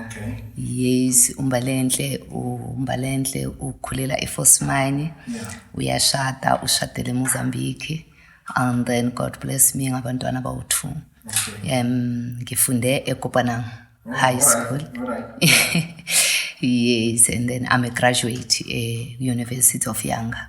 okay yes umbalenhle umbalenhle ukhulela eforce mine yeah. uyashada ushadele emozambique and then god bless me ngabantwana bawu-two okay. um ngifunde ekopanang oh, high school all right, all right. yes and then i'm a graduate e-university eh, of younger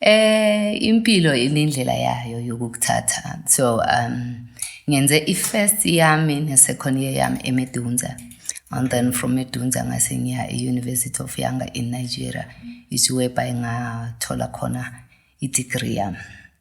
eh impilo inendlela yayo yokukuthatha so um ngenze i-first yami ne-second year yami emedunza and then from edunza ngase ngiya e-university of yanga in nigeria isiwebhayi ngathola khona i-degree yami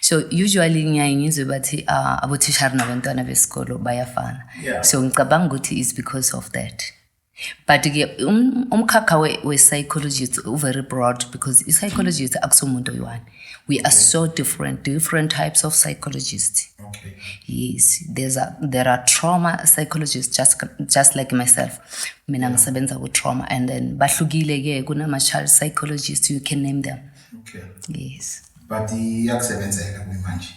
so usually ngiyaye ngizwe bathi uh, ah, abothishari nabantwana besikolo bayafana yeah. so ngicabanga ukuthi is because of that but ke um, umkhakha we-psychology we uvery broad because i-psychologist akusomuntu oyi-one we are so different different types of psychologists okay. yes there's a, there are trauma psychologists just, just like myself mina ngisebenza ku-trauma and then bahlukile ke kunama-child psychologists you can name them Okay. Yes. But iyakusebenzela kumanje.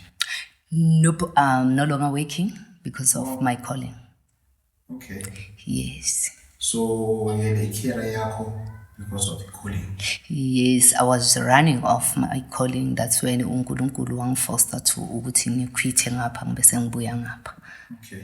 Nope, I'm no longer working because of oh. my calling. Okay. Yes. So wayele ikira yakho because of calling. Yes, I was running off my calling. That's when uNkulunkulu wangifoster to ukuthi ngikhwithe ngapha ngibe sengibuya ngapha. Okay.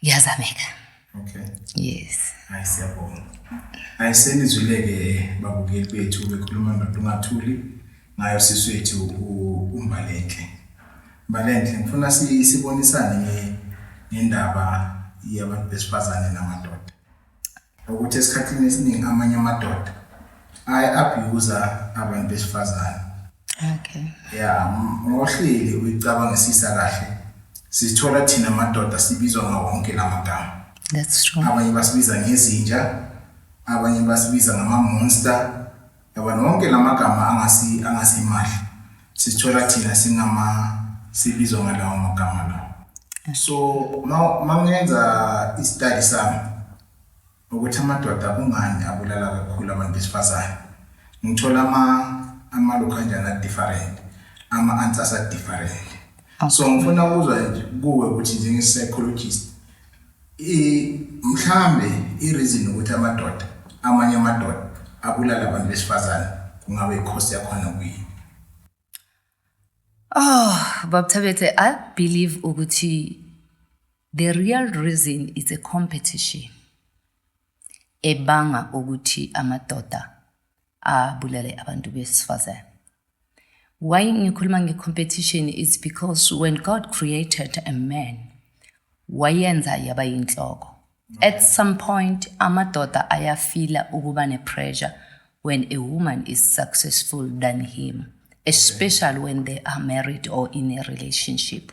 kuyazameka okay yes hayi siyabonga hayi senizwile-ke babukeli bethu bekhuluma ndoda ungathuli ngayo sisi wethu umbalenhle mbalenhle ngifuna sibonisane ngendaba yabantu besifazane namadoda ukuthi esikhathini esiningi amanye amadoda ayi-abhiyuza abantu besifazane okay ya ngohleli uyicabangisisa kahle sithola thina amadoda sibizwa ngawonke la magama that's true abanye basibiza ngezinja abanye basibiza ngama-monster Yabona wonke lamagama angasi angasimahla sisithola thina singama sibizwa ngalawo magama lawo. So mangenza istudy sami ukuthi amadoda kungani abulala kakhulu abantu besifazane. Ngithola ama amalokhu kanjani a different, ama answers a different. So ngifuna ukuzwa kuwe ukuthi njenge psychologist I mhlambe i reason ukuthi amadoda amanye amadoda abulala abantu besifazane kungabe ikhosi yakhona kuyini. Oh, Bob Thabethe, I believe ukuthi the real reason is a competition ebanga ukuthi amadoda abulale abantu besifazane. Why ngikhuluma nge-competition is because when God created a man, wayenza yaba yinhloko. At some point, amadoda ayafila ukuba ne-pressure when a woman is successful than him, especially when they are married or in a relationship.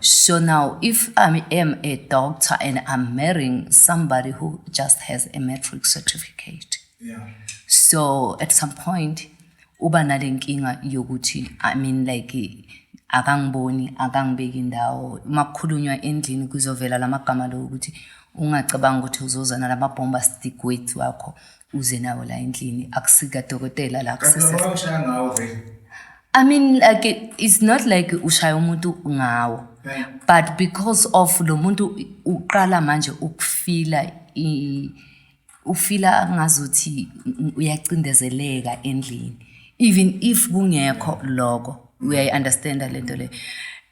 So now, if I am a doctor and I'm marrying somebody who just has a matric certificate, yeah. so at some point, uba nale nkinga yokuthi i mean like akangiboni akangibeki indawo uma kukhulunywa endlini kuzovela la magama lowo ukuthi ungacabanga ukuthi uzoza nalama-bomba stick wethu wakho uze nawo la endlini akusika dokotela la kusese I mean like it's not like ushaya umuntu ngawo but because of lo muntu uqala manje ukufila ufila ngazuthi uyacindezeleka endlini even if kungekho lokho uyayi understanda lento le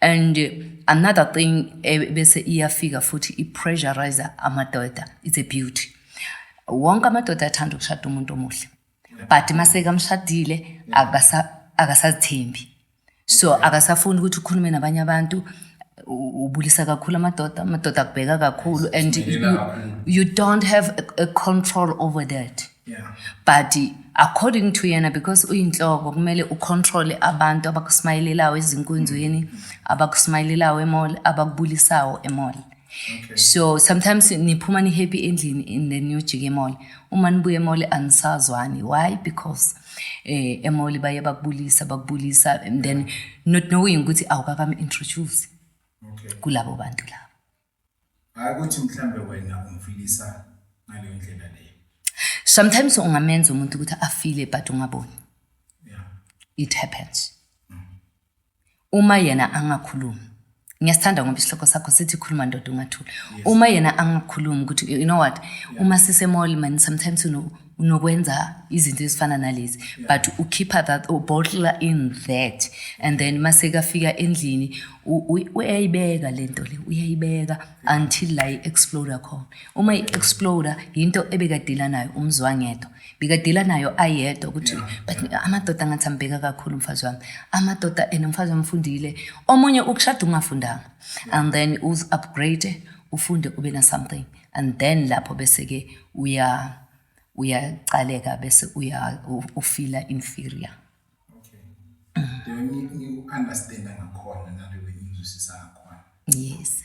and another thing eh, bese iyafika futhi i pressurizer amadoda it's a beauty wonke amadoda athanda ukushada umuntu omuhle but masekamshadile akasazithembi so akasafuni ukuthi ukhulume nabanye abantu ubulisa kakhulu amadoda amadoda akubheka kakhulu and you, you don't have a, a control over that yeah. but according to yena because uyinhloko kumele ucontrole abantu abakusmayelelayo ezinkonzweni abakusmayelelayo emall abakubulisayo emall Okay. so sometimes niphuma ni-happy endlini and then niyojika emall uma nibuya emall anisazwani why because eh emall baye bakubulisa bakubulisa and then not knowing ukuthi awukakami introduce Okay. kulabo bantu labo Hayi ukuthi mhlambe wena umfilisa ngaleyo ndlela leyo. sometimes ungamenza umuntu ukuthi afile but ungaboni Yeah. it happens Uma yena angakhulumi. Ngiyasithanda ngoba isihloko sakho sithi khuluma ndoda ungathuli. Uma yena angakhulumi ukuthi you know what uma sise mall man sometimes you know unokwenza izinto ezifana nalezi but ukhipha that ubottle in that and then mase kafika endlini uyayibeka lento le uyayibeka until la i-exploder khona uma i-exploder yinto ebekadila nayo umzwangedwa Bikadila nayo ayedwa ukuthi but amadoda ngathi ambheka kakhulu umfazi wami amadoda and umfazi wami ufundile omunye ukushada ungafundanga and then uz upgrade ufunde ube na something and then lapho bese ke uya uyaqaleka bese uya ufila inferior okay ngiku understand ngakhona nalewe ngizwisisa ngakhona yes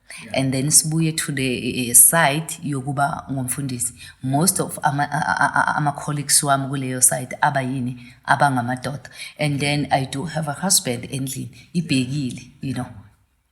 yeah. and then sibuye to the eh, eh, side yokuba ngumfundisi most of ama-colleagues ama wami kuleyo side aba yini abangamadoda and then i do have a husband endlini ibhekile you know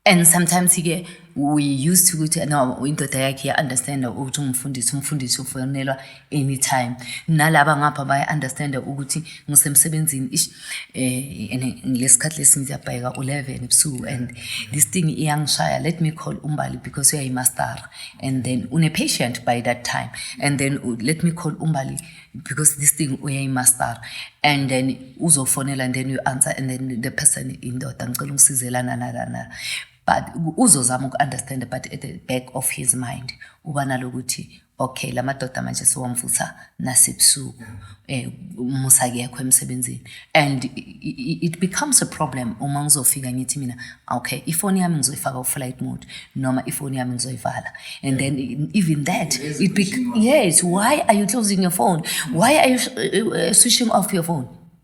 and sometimes ke we used to ukuthi no indoda yakhe ya-understanda ukuthi ungumfundisi umfundisi ufonelwa anytime nalaba ngapha baya understand ukuthi ngisemsebenzini ish eh lesikhathi lesi ngiyabhayeka u11 ebusuku and this thing iyangishaya let me call umbali because uyayi master and then une patient by that time and then uh, let me call umbali because this thing uyayi master and then uzofonela and then you answer and then the person indoda ngicela ungisizelana nalana but uzozama uku-understand but at the back of his mind uba nalokuthi okay la madoda manje siwamvutha nasebusuku eh musa kekho emsebenzini and it becomes a problem uma ngizofika ngithi mina okay ifoni yami ngizoyifaka uflight mode noma ifoni yami ngizoyivala and then even that it be yes why are you closing your phone why are you eh, eh, switching off your phone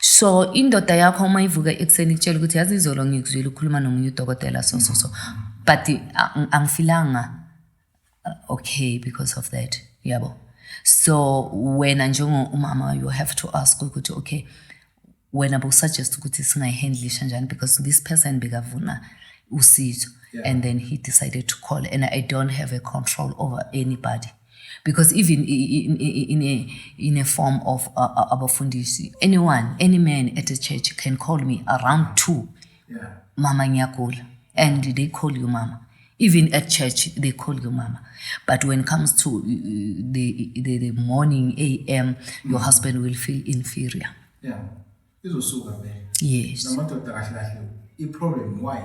so indoda yakho uma ivuka ekuseni ikutshela ukuthi yazi izolo ngikuzwile ukhuluma nomunye udokotela so so so but angifilanga uh, okay because of that yabo so wena njengomama you have to ask ukuthi okay wena bowusuggest ukuthi singayihandlisha njani because this person bekavuna usizo yeah. and then he decided to call and i don't have a control over anybody because even in, in, a, in a form of uh, uh, abafundisi anyone any man at a church can call me around two yeah. mama ngiyagula and they call you mama even at church they call you mama but when it comes to uh, the, the, the morning am your mm. husband will feel inferior yeah izosuka vele yes namadoda kahle kahle i-problem why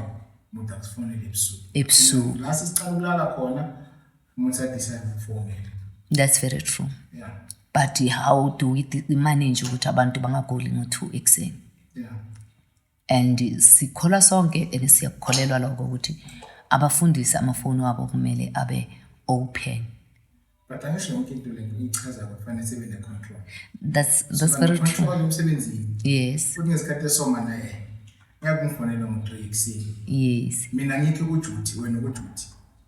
umuntu akusifonele ebusuku ebusuku la sesiqala ukulala khona That's very true. Yeah. But how do we manage ukuthi abantu bangagoli ngo-two ekuseni? Yeah. And sikholwa sonke and siyakukholelwa lokho ukuthi abafundisi amafoni wabo kumele abe open. But angisho yonke into le nto ichaza kufanele sibe ne control. That's that's so, very true. Control umsebenzini. Yes. Kuthi ngesikhathi esoma naye. Ngiyakumfonela ngo-3 ekuseni. Yes. Mina ngikho kujuthi wena kujuthi.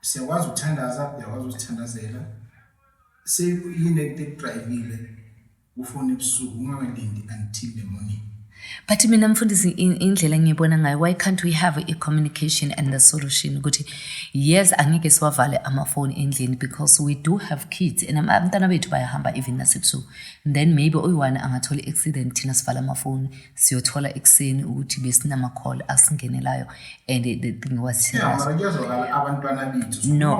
siyakwazi ukuthandaza uyakwazi ukuthandazela sekuyini ekudrayivile ufone ebusuku ungakalindi until the morning but mina mfundisi indlela engiyibona ngayo why can't we have a communication and the solution ukuthi yes angeke siwavale amafoni endlini because we do have kids and abantwana bethu bayahamba even nasebusuku then maybe oyi-one angathola i-accident thina sivala amafoni siyothola ekuseni ukuthi besinama-call asingenelayo and the thing was serious no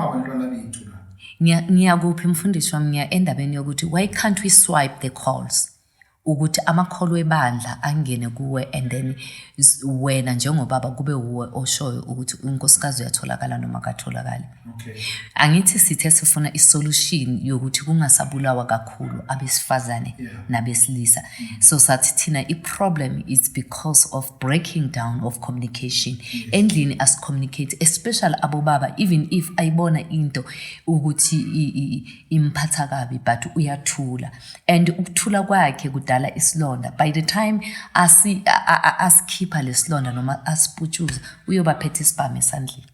ngiyakuphi mfundisi wami ngiya endabeni yokuthi why can't we swipe the calls ukuthi amakholwa ebandla angene kuwe and then wena njengobaba kube wuwe oshoyo ukuthi unkosikazi uyatholakala noma katholakali Okay. Angithi sithe sifuna isolution yokuthi kungasabulawa kakhulu abesifazane yeah. nabesilisa. Mm -hmm. So sathi thina iproblem is because of breaking down of communication. Yes. Endlini as communicate especially abobaba even if ayibona into ukuthi imphatha kabi but uyathula. And ukuthula kwakhe kudala isilonda. By the time asi asikhipha lesilonda noma asiputshuza uyoba phethe isibhamu esandleni.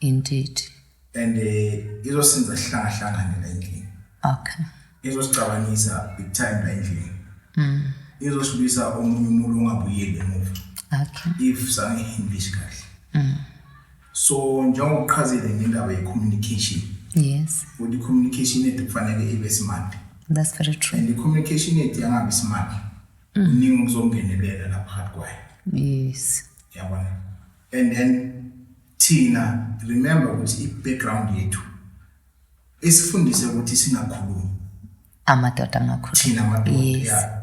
Indeed. And eh izosinza sihlanga hlangane la endlini. Okay. Izosicabanisa big time la endlini. Mm. Izosibisa omunye umuntu ongabuyeli emuva. Okay. If sange English kahle. Mm. So njengoba uqhazile ngendaba ye communication. Yes. Ukuthi communication yethu kufanele ibe smart. That's very true. And the communication yethu yangabi smart. Mm. Uningi ukuzongenelela lapha phakathi kwayo. Yes. Yabona. And then Thina remember ukuthi i background yethu esifundise ukuthi singakhulumi. Amadoda angakhulumi. Thina amadoda. Yes. Yeah.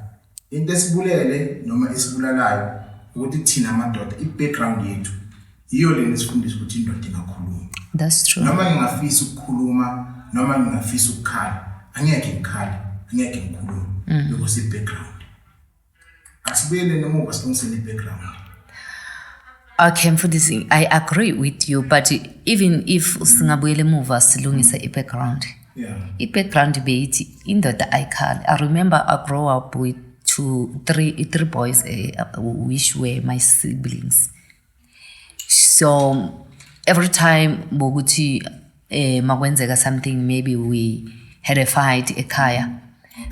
Into esibulele noma esibulalayo ukuthi thina amadoda i background yethu yiyo lena esifundisa ukuthi indoda ingakhulumi. That's true. Noma ngingafisa ukukhuluma noma ngingafisa ukukhala angeke ngikhale angeke ngikhulume mm. because i background Asibuyele emuva silungisele i-background. Okay mfundisi, I agree with you but even if singabuyela emuva silungise i-background. Yeah. I-background beyithi indoda ayikhali. I remember I grow up with two, three, three boys uh, which were my siblings. so every time bokuthi eh makwenzeka something maybe we had a fight ekhaya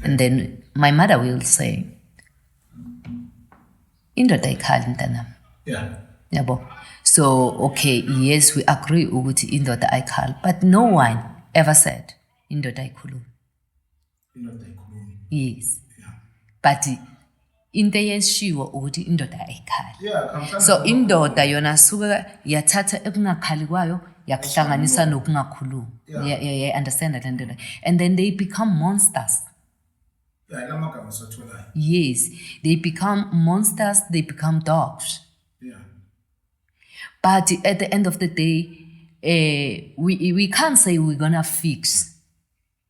and then my mother will say indoda ayikhali mntanami yeah yabo so okay yes we agree ukuthi indoda ayikhali but no one ever said indoda ayikhulumi yes but into eyeshiwo ukuthi indoda ayikhali so indoda yona suke yathatha ekungakhali kwayo yakuhlanganisa nokungakhulumi understand le nto and then they become monsters yes they become monsters they become dogs but at the end of the day uh, we, we can't say we're gonna fix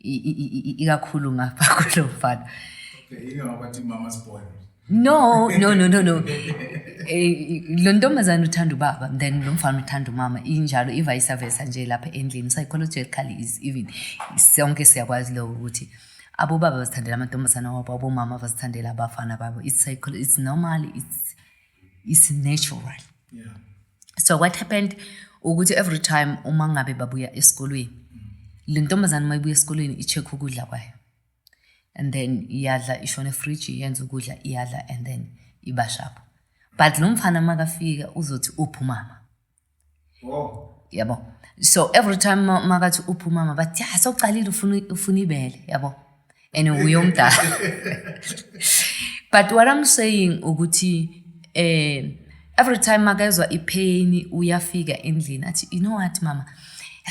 ikakhulu ngapha kulo mfana no no no no no eh, lo ntombazane uthanda ubaba then lo mfana uthanda umama injalo i-vice versa nje lapha endlini psychologically is even sonke siyakwazi lokho ukuthi abobaba bazithandela amantombazane wabo abomama bazithandela abafana babo it's, it's normal it's is natural yeah. so what happened ukuthi every time uma ngabe babuya esikolweni le ntombazane uma ibuya esikolweni i-check ukudla kwayo and then iyadla ishona efriji yenza ukudla iyadla and then ibashapho but lo mfana makafika uzothi uphi umama yabo so every time ma- makathi uphi umama bathi ya sewucalile ufuna ufuna ibele yabo and uye umdala but what i'm saying ukuthi eh every time makezwa ipain uyafika endlini athi you know what mama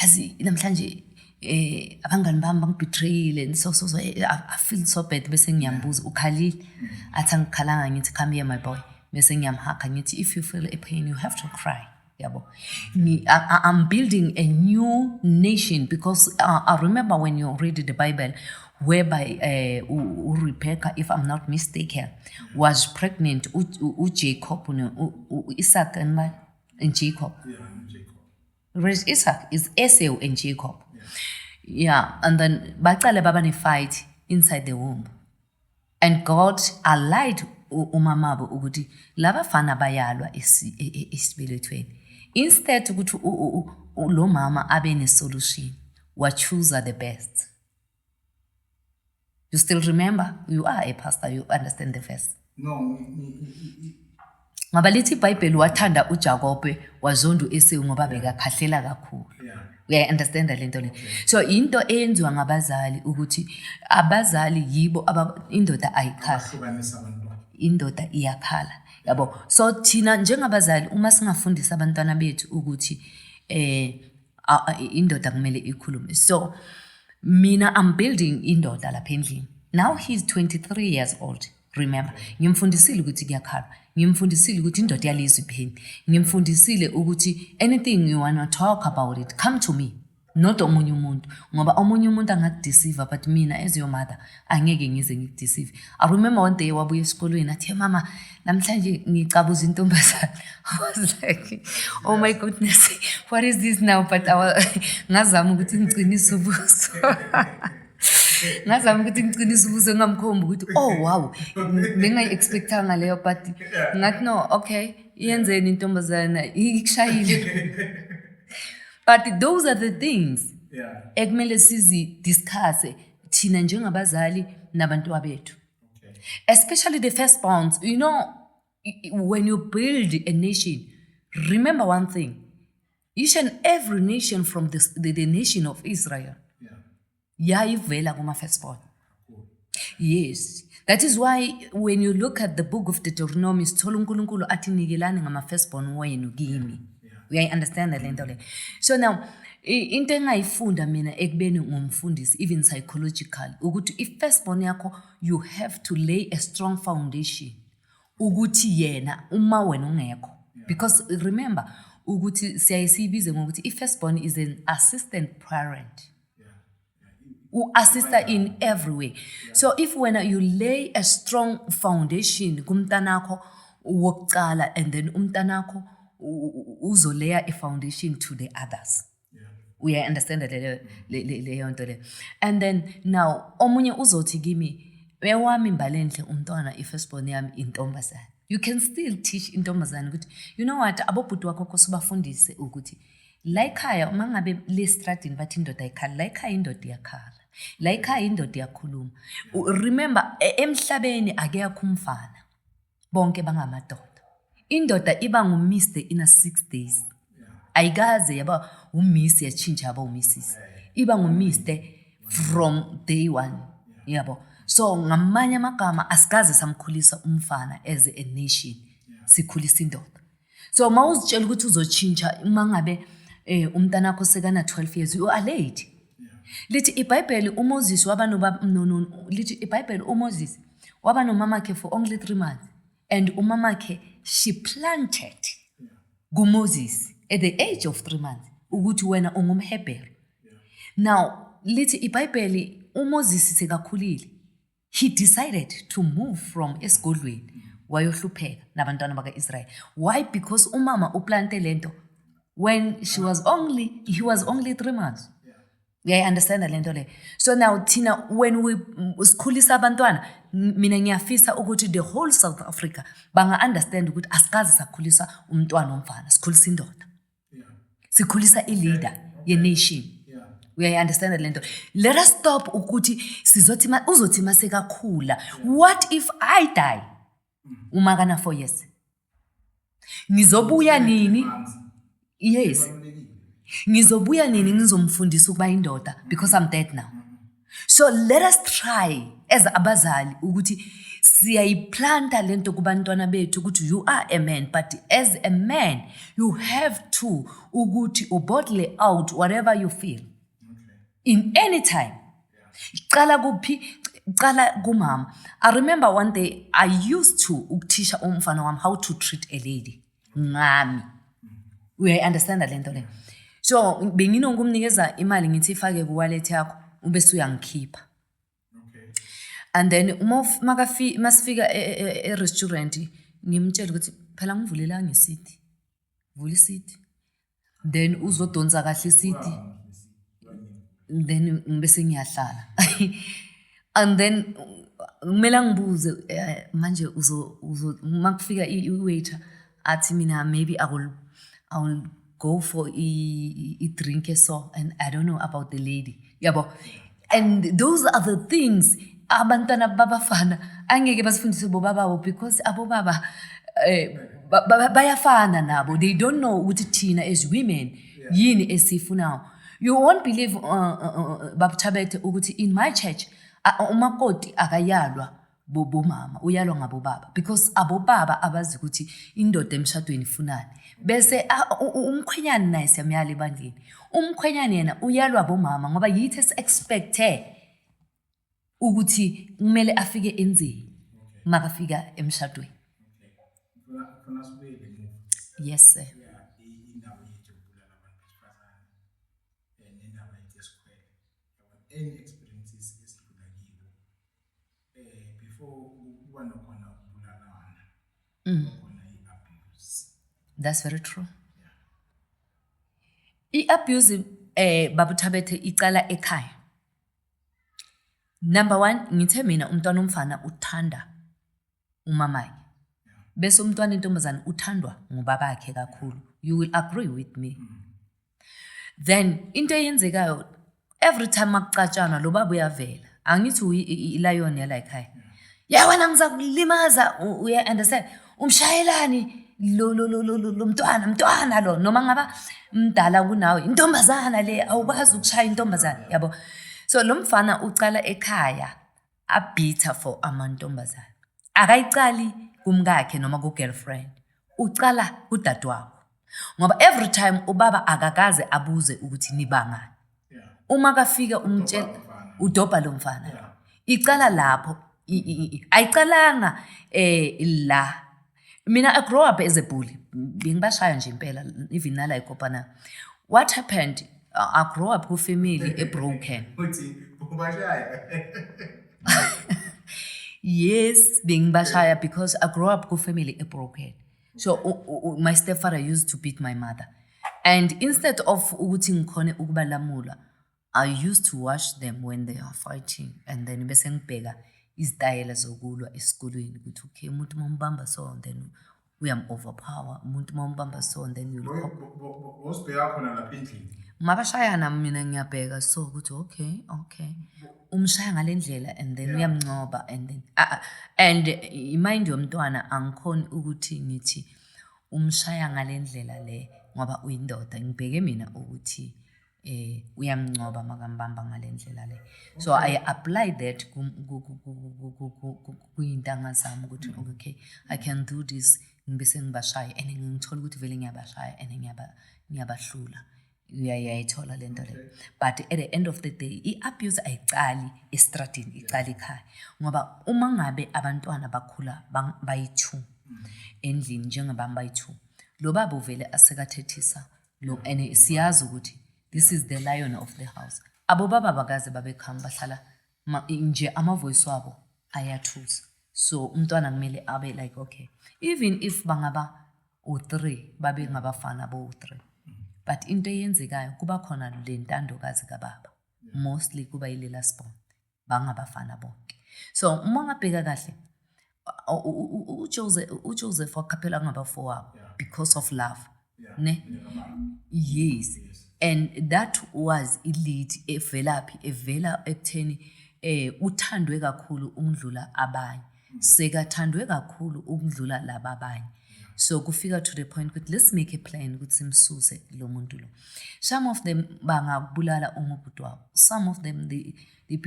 yazi namhlanje eh abangani bami bangibetrayile and so so so eh, I, I feel so bad bese ngiyambuza ukhalile athi angikhalanga ngithi come here my boy bese ngiyamhaka ngithi if you feel a pain you have to cry yabo Ngi- I, I- i'm building a new nation because uh, i remember when you read the bible whereby uh, u- u- rebecca if i'm not mistaken was pregnant u- u- ujacob no- u- u- isaac and, my, and jacob Yeah, Jacob. Rich Isak is Eseu and Jacob. Yeah. yeah, and then bacale baba ne fight inside the womb. And God allied umamabo ukuthi laba fana bayalwa e, e, esibelethweni. Instead ukuthi lo mama abe ne solution, wa choose the best. You still remember? You are a pastor, you understand the verse. No. Ngoba lithi iBhayibheli wathanda uJakobe wazonda uEsau ngoba bekakhahlela kakhulu. Yeah. uyayi-understanda le nto le so yinto eyenziwa ngabazali ukuthi abazali yibo indoda ayikhala indoda iyakhala yabo so thina njengabazali uma singafundisa abantwana bethu ukuthi eh A- a- indoda kumele ikhulume so mina i'm building indoda lapha endlini now he's 23 years old remember ngimfundisile ukuthi kuyakhalwa ngimfundisile ukuthi indoda yalizwa ipheni ngimfundisile ukuthi anything you wanna talk about it come to me not omunye umuntu ngoba omunye umuntu angakudeceive but mina as your mother angeke ngize ngikudisive i remember one day wabuya esikolweni athi mama namhlanje ngicabuza intombazane i was like oh my goodness what is this now but ngazama ukuthi ngiqinise ubuso ngazama ukuthi ngiqinise ubuso ngingamkhombi ukuthi oh wow bengayi-expectanga leyo but ngathi no okay yenzeni intombazana ikushayile but those are the things ekumele sizi-discusse thina njengabazali nabantwabethu especially the first bonds you know when you build a nation remember one thing each and every nation from the, the, the nation of israel yayivela yeah. kuma-first born yes that is why when you look at the book of deuteronomy sithola unkulunkulu athi nikelani ngama-first born wenu kimi yeah. uyayi-understanda le nto le so now into engayifunda mina ekubeni ngumfundisi even psychological ukuthi i-first born yakho you have to lay a strong foundation ukuthi yena uma wena ungekho because remember ukuthi siyaye siyibize ngokuthi i-first born is an assistant parent u-assista in every way so if wena you lay a strong foundation kumntanakho wokucala and then umntanakho uzoleya i-foundation to the others uyayi-understanda leyo nto leyo and then now omunye uzothi kimi ewami mbalenhle umntwana i-firstborn yami intombazane you can still teach intombazane ukuthi you know what abobhuti wakho kose ubafundise ukuthi La ekhaya uma ngabe lestradini bathi indoda ayikhala la ekhaya indoda iyakhala la ekhaya indoda iyakhuluma remember e, emhlabeni akekho umfana bonke bangamadoda indoda iba ngumiss the inner six days ayikaze yaba umiss yatshintsha yaba umissis iba ngumiss the from day one yabo so ngamanye amagama asikaze samkhulisa umfana as a nation sikhulisa indoda so uma uzitshela ukuthi uzotshintsha uma ngabe um umntana wakho sekana-twelve years you are late lithi ibhayibheli umoses waba lithi ibhayibheli umoses waba nomamakhe for only three months and umamakhe she planted kumoses at the age of three months ukuthi wena ungumhebheru now lithi ibhayibheli umoses sekakhulile he decided to move from esigodlweni wayohlupheka nabantwana baka-israyeli why because umama uplante le nto when she was only he was only three months uyayi-understanda le nto leyo so now thina when we sikhulisa abantwana mina ngiyafisa ukuthi the whole south africa banga-understand ukuthi asikazi sakhulisa umntwana omfana sikhulisa indoda sikhulisa ileader yenation uyayi-understanda le nto let us stop ukuthi sizothi ma- uzothi uma sekakhula what if i die uma kana four years ngizobuya nini yes ngizobuya nini ngizomfundisa ukuba indoda because i'm dead now so let us try as abazali ukuthi siyayiplanta le nto kubantwana bethu ukuthi you are a man but as a man you have to ukuthi ubottle out whatever you feel in any time cala kuphi cala kumama i remember one day i used to ukuthisha umfana wami how to treat a lady ngami uyayi-understanda le nto leyo so benginokumnikeza imali ngithi ifake kuwallet yakho ube suyangikhipha and then uma masifika e, e, e, e-restaurant ngimtshele ukuthi phela ngivulelanga isithi vula isithi then uzodonsa kahle isidi then ngibe sengiyahlala and then kumele angibuze eh, manje uzo uzo makufika i-waiter athi mina maybe i will i will go for i-drink so and i don't know about the lady yabo yeah. and those are the things abantwana babafana angeke basifundise bobaba bo because abobaba eh, ba- ba- bayafana nabo they don't know ukuthi thina as women yini esiyifunayo you won't believe uh, uh, uh, babuthabethe ukuthi in my church a- umakoti akayalwa bobomama uyalwa ngabobaba because abobaba abazi ukuthi indoda emshadweni ifunani bese umkhwenyane naye siyamyala ebandleni umkhwenyane yena uyalwa bomama ngoba yithi esi-expecte ukuthi kumele afike enzeni makafika emshadweni yes sir eh before kuba nokhona ukubulalana mm. khona i-abuse that's very true i-abuse eh babuthabethe icala ekhaya number one ngithe mina umntwana omfana uthanda umamanye bese umntwana intombazane uthandwa ngubabakhe kakhulu you will agree with me then into eyenzekayo every time akucatshanwa lo baba uyavela angithi ilayoni yala ekhaya ya wena ngizakulimaza uya-understand umshayelani lo lo lo lo lo lo mntwana mntwana lo noma ngaba mdala kunawe intombazana le awukwazi ukushaya intombazana yabo so lo mfana ucala ekhaya abitter for amantombazane akayiqali kumkakhe noma ku-girlfriend ucala kudadewabo ngoba every time ubaba akakaze abuze ukuthi nibangani uma kafike umtshela udobha lo mfana icala lapho ayiqalanga um la Mina I grow up as a bully. Bengibashaya nje impela even nala ikopana. What happened? I grow up ku family e broken. Uthi ubashaya. Yes, bengibashaya because I grow up ku family e broken. So u, u, my stepfather used to beat my mother. And instead of ukuthi ngikhone ukubalamula, I used to watch them when they are fighting and then bese ngibheka izitayela zokulwa esikolweni ukuthi okay umuntu uma umbamba so then uyam-overpower umuntu uma umbamba so then usibheka khona lapha endlini mabashayana mina ngiyabheka so ukuthi okay okay umshaya ngale ndlela and then uyamncoba and then ah, ah, and imind yomntwana angikhoni ukuthi ngithi umshaya ngale ndlela le ngoba uyindoda ngibheke mina ukuthi eh uyamncoba makambamba ngalendlela le so i apply that kuyintanga zami ukuthi mm. okay i can do this ngibe sengibashaya and ngithola ukuthi vele ngiyabashaya and ngiyabahlula uyayayithola le nto leyo but at the end of the day i-abuse ayiqali estradini iqali ekhaya ngoba uma ngabe abantwana bakhula bayi-two mm. endlini njengabami bayi-two lo baba uvele asekathethisa no and siyazi ukuthi this is the lion of the house abo baba bakaze babekhama bahlala ma- nje amavoice wabo ayathusa so umntwana kumele abe like okay even if bangaba u-three babe ngabafana bo-three but into eyenzekayo kuba khona le ntandokazi kababa mostly kuba yilela sbon bangabafana bonke so uma ngabheka kahle uJoseph uJoseph waqaphela ngabafowabo because of love ne yes and that was i lead evelaphi evela ekutheni eh uthandwe kakhulu ukudlula abanye sekathandwe kakhulu ukudlula laba abanye so kufika to the point ukuthi let's make a plan ukuthi simsuse lo muntu lo some of them bangakubulala uma ubhuti wabo some of them they, they,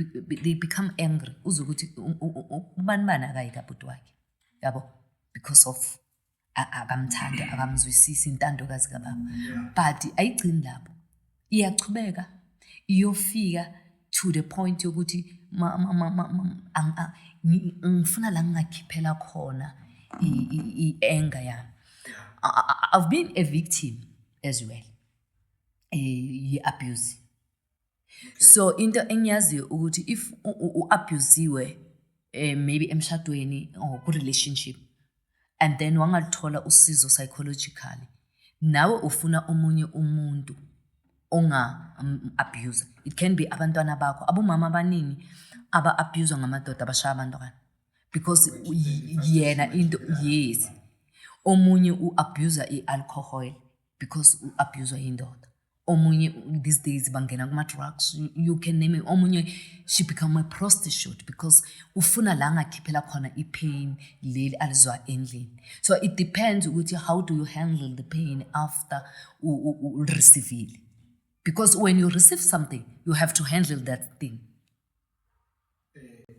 they become angry uze ukuthi ubani bani akayi kabhuti wakhe yabo because of akamthandi akamzwisisi intandokazi kababa but ayigcini lapho iyachubeka iyofika to the point yokuthi ngifuna la ngingakhiphela khona i-anger yami i've been a victim as well eh, ye-abuse so into engiyaziyo ukuthi if u-abusiwe eh, maybe emshadweni or ku-relationship and then wangaluthola usizo psychologically nawe ufuna omunye umuntu onga-abuse um, it can be abantwana bakho abomama abaningi aba-abuswa ngamadoda abashaya abantwana because yena into yes omunye u-abusa i-alcohol because u-abuswa yindoda omunye these days bangena kuma-drugs you, you can name it omunye she become a prostitute because ufuna la ngakhiphela khona i-pain leli alizwa endlini so it depends ukuthi how do you handle the pain after ulisivile because when you receive something you have to handle that thing eh,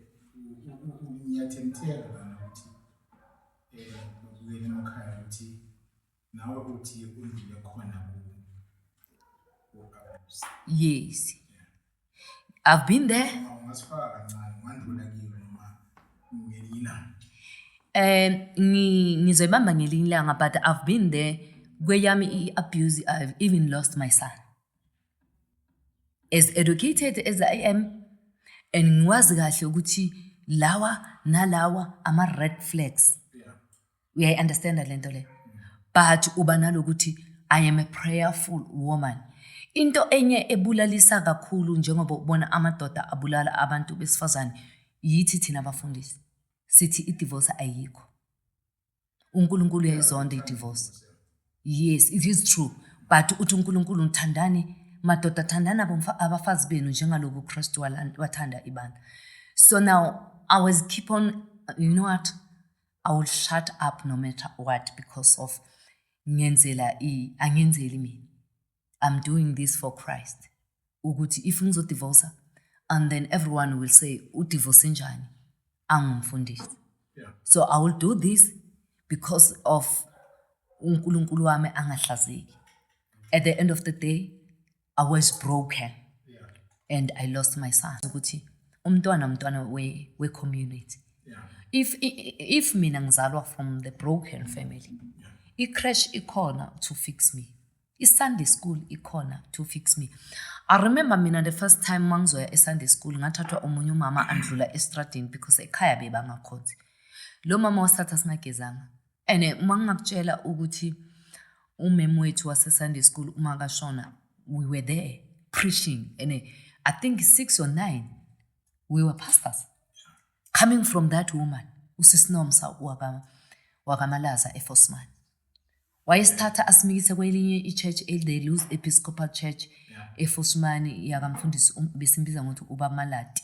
ngiyathemthela lana ukuthi um eh, ukuyela emakhaya ukuthi Nawe uthi undlule khona ku u-abuse. Yes. I've been there. Awungasifaka kancane wandlula kiyo noma ngelinye ilanga. Um ngi- ngizoyibamba ngelinye ilanga but I've been there kweyami i-abuse I've even lost my son. As educated as I am and ngiwazi kahle ukuthi lawa nalawa ama-red flags. uyayi-understanda le nto le but uba nalokuthi i am a prayerful woman into enye ebulalisa kakhulu njengoba ubona amadoda abulala abantu besifazane yithi thina abafundisi sithi idivorce ayikho unkulunkulu uyayizonda idivorce yes it is true but uthi unkulunkulu ngithandani madoda thandani abafazi benu njengaloku ukristu wathanda ibandla so now i was keep on you know what I will shut up no matter what because of ngenzela i angenzeli mina. I'm doing this for Christ. Ukuthi if ngizodivorce and then everyone will say udivorce njani angumfundisi. Yeah. So I will do this because of uNkulunkulu wami angahlazeki. At the end of the day i was broken and i lost my son ukuthi umntwana umntwana we-community if, if mina ngizalwa from the broken family i-crash ikhona to fix me i-sunday school ikhona to fix me i remember mina the first time mangizoya e-sunday school ngathathwa omunye umama andlula estradini because ekhaya bebangakhonzi lo mama wasithatha singagezanga and eh, uma ngingakutshela ukuthi umem wethu wasesunday school uma kashona we were there preaching and eh, i think six or nine we were pastors coming from that woman usisinomsa wakamalaza efosman wayesithatha asimikise kwelinye i-church the lose episcopal church efosmani yakamfundisi um, besimbiza ngokuthi ubamalati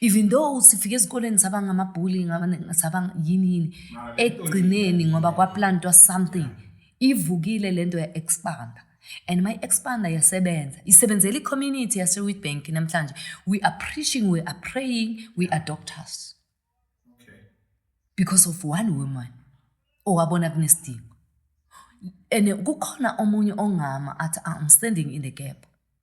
even though sifike ezikoleni saba ngamabhuli saba yini yini ekugcineni ngoba kwaplantwa something ivukile le nto ya-expanda and my expanda yasebenza isebenzela i-community yase-witbank namhlanje we are preaching we are praying we are doctors okay. because of one woman owabona kunesidingo and kukhona omunye ongama athi ah, i'm standing in the gap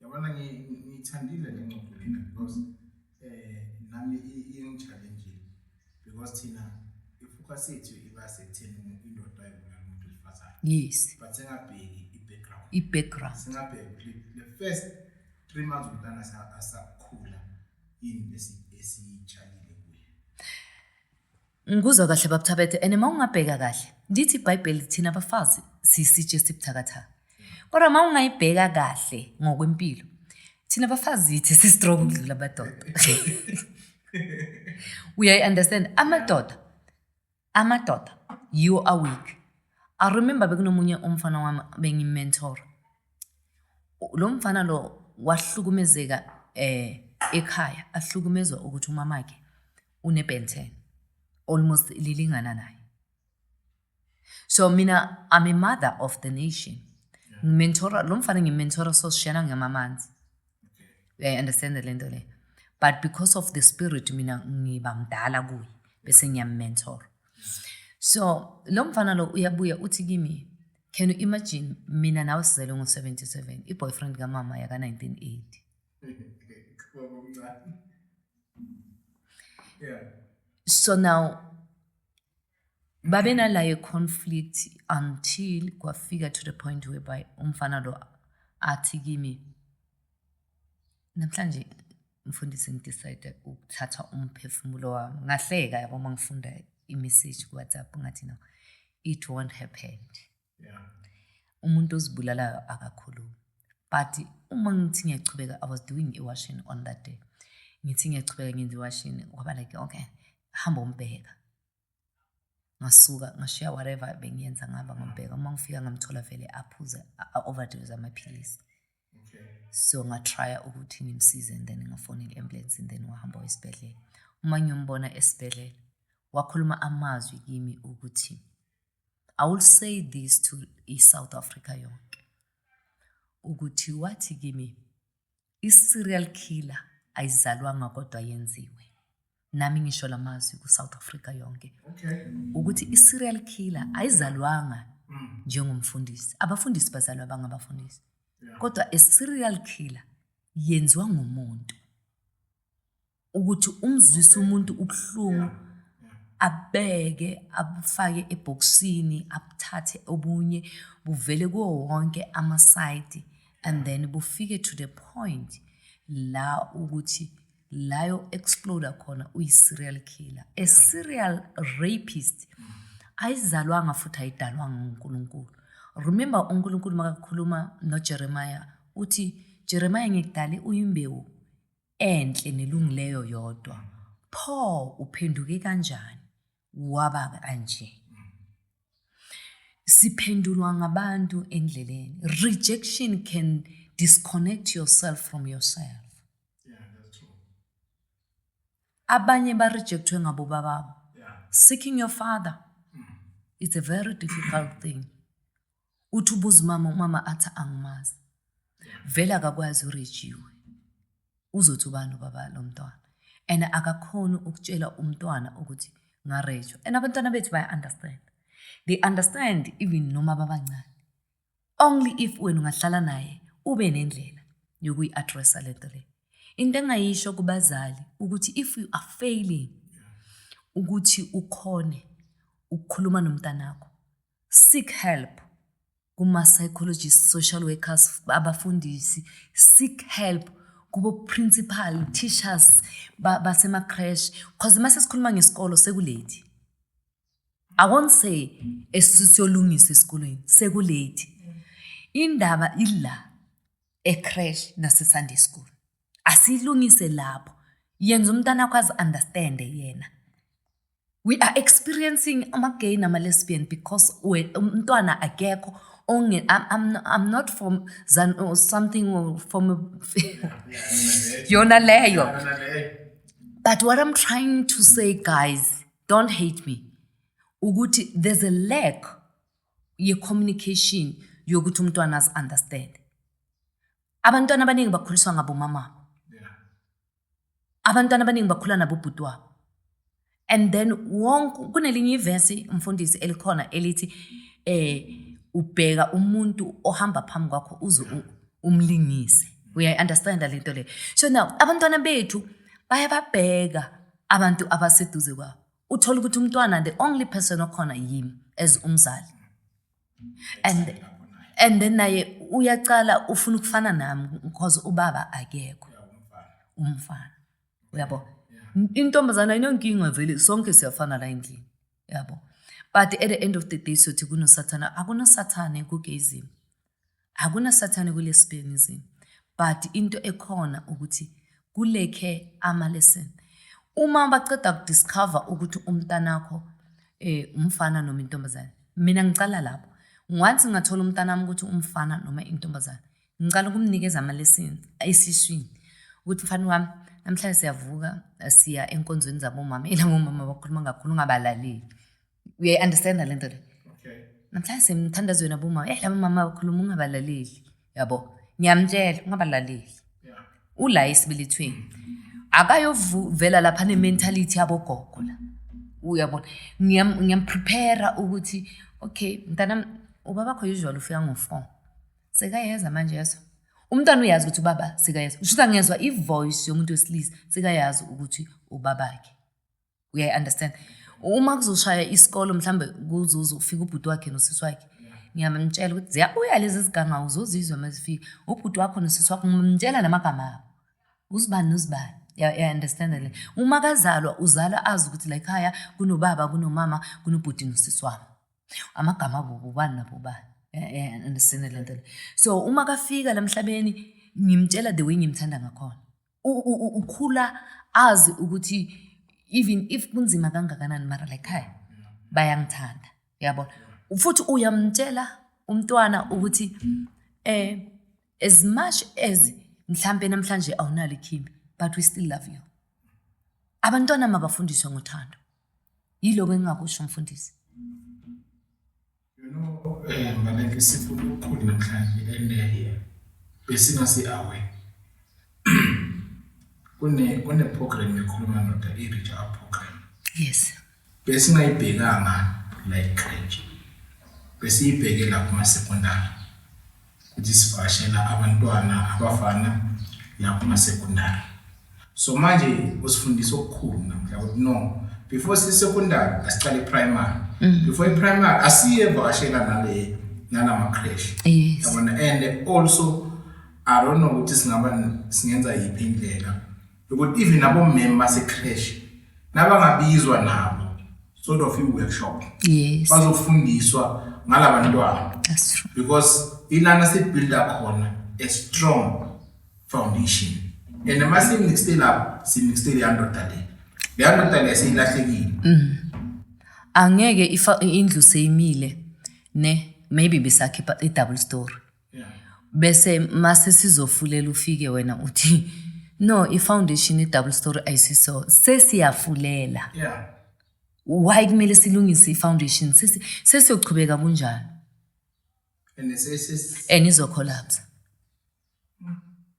Yabona ngiyithandile le ngxoxo lena because eh nami ingichallengeile because thina ifocus yethu iba sekutheni indoda ayibulala umuntu wesifazane. Yes. But singabheki i-background. I-background. Singabheki the first three months umntana asakhula yini esiyitshalile. Ngikuzwa kahle bab Thabethe and uma ungabheka kahle lithi ibhayibheli thina bafazi siyisitshe esibuthakathaka kodwa uma ungayibheka kahle ngokwempilo thina bafazi yithi si-strong ukudlula amadoda uyayi-understand amadoda amadoda yiwo aweak i remember bekunomunye umfana wami bengimentora lo mfana lo wahlukumezeka um ekhaya ahlukumezwa ukuthi umamakhe une-Ben 10 almost lilingana naye so mina i'm a mother of the nation ngimentora lo mfana ngimentora so sishena ngamamanzi uyayi-understanda le nto leyo but because of the spirit mina ngiba mdala kuye bese ngiyammentora so lo mfana lo uyabuya uthi kimi can you imagine mina nawe sizelwe ngo-77 i-boyfriend kamama yaka-1980 yeah so now babenalayo conflict until kwafika to the point whereby umfana lo athi kimi namhlanje mfundisi ngidecide ukuthatha umphefumulo wami ngahleka yabo uma ngifunda imessage kuwhatsapp ngathi no it won't happen yeah. umuntu ozibulalayo akakhulumi but uma ngithi ngiyachubeka i was doing iwashini on that day ngithi ngiyachubeka ngenza iwashini waba like okay hamba umbheka ngasuka ngashiya whatever bengiyenza ngihamba ngombheka uma ngifika ngamthola vele aphuze a-overdose amaphilisi so ngatrya ukuthi ngimsize and then ngafona i-ambulance and then wahamba esibhedlela uma ngiyombona esibhedlela wakhuluma amazwi kimi ukuthi I will say this to i-South Africa yonke ukuthi wathi kimi i-serial killer ayizalwanga kodwa yenziwe nami ngisho la mazwi ku-south africa yonke okay. ukuthi i-serial killer ayizalwanga mm. njengomfundisi abafundisi bazalwa bangabafundisi yeah. kodwa i-serial killer yenziwa ngumuntu ukuthi umzwise umuntu ubuhlungu abeke abufake ebhokisini abuthathe obunye buvele kuwo wonke amasayidi and then bufike to the point la ukuthi layo exploda khona uyi-serial killer a serial rapist ayizalwanga futhi ayidalwanga ngunkulunkulu remember unkulunkulu makakhuluma nojeremiya uthi jeremiya ngikudale uyimbewu enhle nelungileyo yodwa pho uphenduke kanjani waba kanje siphendulwa ngabantu endleleni rejection can disconnect yourself from yourself abanye barejectwe ngabo bababo seeking your father it's a very difficult thing uthi ubuza umama umama athi angimazi vele akakwazi urejiwe uzothi ubani ubaba lo mntwana and akakhoni ukutshela umntwana ukuthi ngarejwa and abantwana bethu baya-understand they understand even noma babancane only if wena ungahlala naye ube nendlela yokuyi-addressa le nto le into engayisho kubazali ukuthi if you are failing ukuthi ukhone ukukhuluma nomntanakho seek help kuma-psychologist social workers abafundisi seek help kubo-principal teachers basema-crash cause uma sesikhuluma ngesikolo sekulate i won't say esisiyolungisa esikolweni sekulate indaba ila ecrash nasesunday school asilungise lapho yenza umntana akwazi understande yena we are experiencing ama-gay nama-lesbian because umntwana akekho onge I'm, I'm, I'm not from zan or something or from yona leyo but what i'm trying to say guys don't hate me ukuthi there's a lack ye-communication yokuthi umntwana azi-understand abantwana abaningi bakhuliswa ngabomamabo abantwana abaningi bakhula nabo ubhuti wabo and then wonke kunelinye ivesi mfundisi elikhona elithi eh ubheka umuntu ohamba phambi kwakho uze umlingise uyayi-understanda le nto leyo so now abantwana bethu baye babheka abantu abaseduze kwabo uthole ukuthi umntwana the only person okhona yimi as umzali and and then naye uyacala ufuna ukufana nami because ubaba akekho umfana uyabo intombazana inonkinga vele sonke siyafana la endlini yabo but at the end of the day sothi kunosathana akunosathane kugezini akunasathane kulesibhekisini but into ekhona ukuthi kulekhe ama lesson uma baceda ku discover ukuthi umntanakho eh umfana noma intombazane mina ngicala lapho once ngathola umntanami ukuthi umfana noma intombazane ngicala ukumnikeza ama lesson esiswini ukuthi mfana wami namhlanje siyavuka siya enkonzweni zabomama ilabomama bakhuluma kakhulu ungabalaleli uyayi-understanda le nto le namhlanje semthandazweni abomama eyi laba mama bakhuluma ungabalaleli yabo ngiyamtshela ungabalaleli ula esibelethweni akayovela lapha ne-mentality yabogogo la uyabona ngiyamprepare ukuthi okay mntana ubabakho usual ufika ngo-four sekayeza manje yeso umntwana uyazi ukuthi ubaba sekayazi ushuthi angezwa ivoice yomuntu wesilisa sekayazi ukuthi ubabakhe uyayi understand uma kuzoshaya isikolo mhlambe kuzuza ufika ubhuti wakhe nosisi wakhe ngiyamtshela ukuthi ziyabuya lezi zigangawu uzozizwa uma zifika ubhuti wakho nosisi wakho ngimtshela namagama abo uzibani nozibani yaunderstand le uma kazalwa uzalwa azi ukuthi la ekhaya kunobaba kunomama kunobhuti nosisi wami amagama abo bobani nabobani understand le nto le so uma kafika la mhlabeni ngimtshela the way ngimthanda ngakhona ukhula azi ukuthi even if kunzima kangakanani mara la ekhaya bayangithanda yabona futhi uyamtshela umntwana ukuthi eh as much as mhlampe namhlanje awunalo ikhimbi but we still love you abantwana mabafundiswe ngothando yiloko engingakusho mfundisi You know, eh mbaleke sifuna ukukhulu namhlanje and eh, besingasi away. Kune kune program yokhuluma ndoda i reach out program. Yes. Besingayibhekanga like grade. Besiyibheke lapha kuma secondary. ukuthi sivakashela abantwana abafana la kumasecondary so manje usifundisa okukhulu namhla ukuthi no before sisecondary asiqale primary mm. before iprimary asiye vakashela nale nalama crash yabona and also i don't know ukuthi singaba singenza yiphi indlela Because even abomeme basecresh nabangabizwa nabo sort of i-workshop yes. bazofundiswa ngalaba ntwana because ilana sibuilda khona a strong foundation and uma simixte lapho simixte leya ndoda le leya ndoda le seyilahlekile mm. angeke indlu seyimile ne maybe besakhipha i-double story bese mase sizofulela ufike wena uthi no i-foundation i-double story ayisiso sesiyafulela yeah. why kumele silungise i-foundation sesiyochubeka kunjalo and izocollapse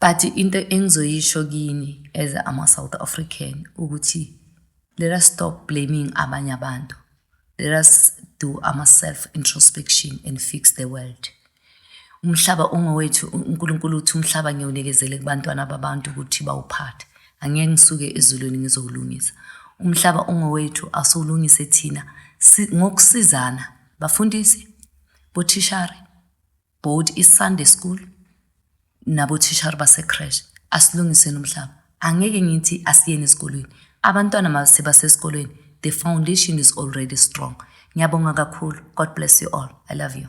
But into engizoyisho kini as ama South African ukuthi let us stop blaming abanye abantu. Let us do ama self introspection and fix the world. Umhlaba ungowethu uNkulunkulu uthi umhlaba ngiyonikezele kubantwana babantu ukuthi bawuphathe. Angeke ngisuke ezulwini ngizowulungisa. Umhlaba ungowethu asiwulungise thina ngokusizana bafundisi bothishari both iSunday school nabothishara basecrash asilungiseni umhlaba angeke ngithi asiyeni esikolweni abantwana mase basesikolweni the foundation is already strong ngiyabonga kakhulu god bless you all i love you